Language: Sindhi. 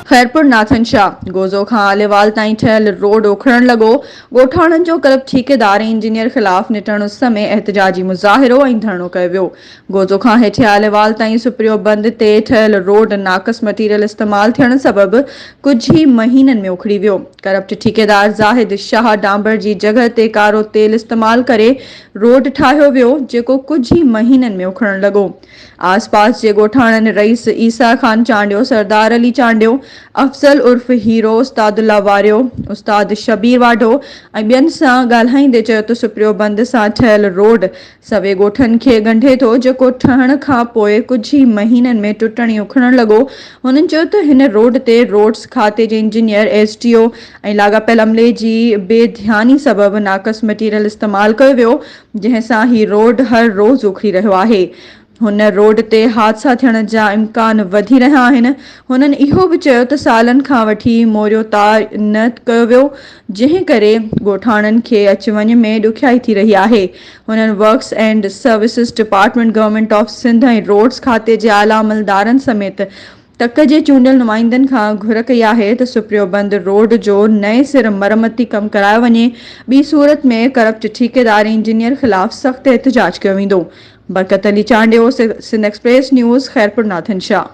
خيرپور ناٿن شاهه گوزو کان آليوال تائين ٺهيل روڊ اکڙڻ لڳو، ڳوٺاڻن جو ڪلب ٺيڪيدار ۽ انجنيئر خلاف نٽڻ اس ۾ احتجاجي مظاهرو ۽ ڌرڻو ڪيو ويو، گوزو کان هيٺين آليوال تائين سپريو بند تي ٺهيل روڊ ناقص مٽيريل استعمال ٿيڻ سبب ڪجهه ئي مهينن ۾ اکڙي ويو، ڪرپٽ ٺيڪيدار زاهد شاهه ڊامبر جي جڳهه تي ڪارو تيل استعمال ڪري روڊ ٺاهيو ويو، جيڪو ڪجهه ئي مهينن ۾ اکڙڻ لڳو. آس پاس جي ڳوٺاڻن رئيس عيسيٰ خان چانڊيو، سردار علي چانڊيو، افضل عرف هيرو، استاد الله واريو، استاد شبير واڍو ۽ ٻين سان ڳالهائيندي چيو ته سپريو بند سان ٺهيل روڊ سوين ڳوٺن کي ڳنڍي ٿو، جيڪو ٺهڻ کان پوء ڪجهه ئي مهينن ۾ ٽٽڻ ۽ اکڙڻ لڳو. هنن چيو ته هن روڊ تي روڊز کاتي جي انجنيئر، ايس ڊي او، ۽ لاڳاپيل عملي جي بي ڌياني سبب ناقص مٽيريل استعمال ڪيو ويو جنهن سان هي روڊ هر روز اکڙي رهيو آهي هن روڊ تي حادثا ٿيڻ جا امڪان وڌي رهيا آهن هنن اهو به چيو ته سالن کان وٺي موريو تار نه ڪيو ويو جنهن ڪري ڳوٺاڻن کي اچ وڃ ۾ ڏکيائي ٿي رهي آهي هنن works and services department government of Sindh ۽ roads کاتي جي اعليٰ عملدارن سميت تڪ جي چونڊيل نمائندن کان گهر ڪئي آهي ته سپريو بند روڊ جو نئين سر مرمتي ڪم ڪرايو وڃي، ٻي صورت ۾ ڪرپٽ ٺيڪيدار انجنيئر خلاف سخت احتجاج ڪيو ويندو. Barkat Ali Chandio, Sindh Express News, Khairpur Nathan Shah.